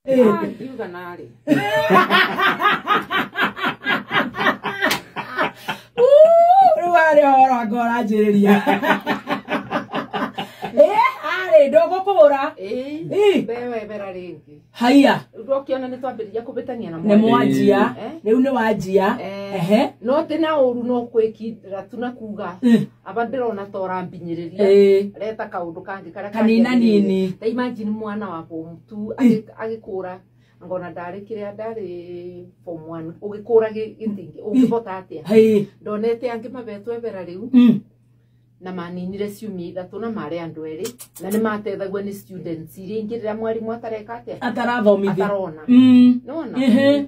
Ah, ngiuga narĩ rĩu arĩ horo anga ũranjĩrĩria Eh, arĩ ndũgũkũhũra Ĩĩ, Ĩĩ. wewe vera rĩngĩ haiya rĩu ndokĩona nĩ twambĩrĩria kũbĩtania na nĩ mwarimũ. mwanjia Eh. rĩu nĩ wanjia Eh. ehe no tĩ na ũru no kwĩkindĩra tu na kuga Mm. aba ndĩrona ta ũrambinyĩrĩria Ĩĩ. reta kaũndũ kangĩ karĩa Kanina kangĩagĩrĩire. nini. ta imagine mwana wa form two agĩ- agĩkũra ngona ndarĩ kĩrĩa ndarĩ form one ũgĩkũra gĩ- gĩtingĩ ũngĩhota atĩa Ĩĩ. ndonete angĩ mabetwo ebera rĩu Mm. na maninire ciumia ithatũ na marĩ andũ erĩ na nĩ matethagua nĩ students iria ingĩ rĩrĩa mwarimũ atareka atĩa atarathomithia atarona Mm. nona Ehe.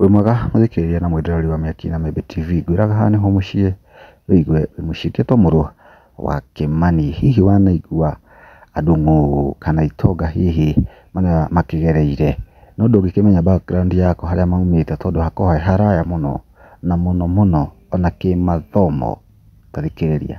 Wĩ mwega mũthikĩrĩria na mwendwa wa Mĩaki na Mĩmbi TV, ngwĩraga haha nĩho mũciĩ wĩigue wĩ mũciĩ. Ngetwo mũrũ wa Kĩmani, hihi wanaigua andũ ng'ũ kana itonga hihi makĩgereire, no ndũngĩkĩmenya background yakwa harĩa maumĩte tondũ hakoragwo he haraya mũno na mũno mũno ona kĩmathomo. Ta thikĩrĩria.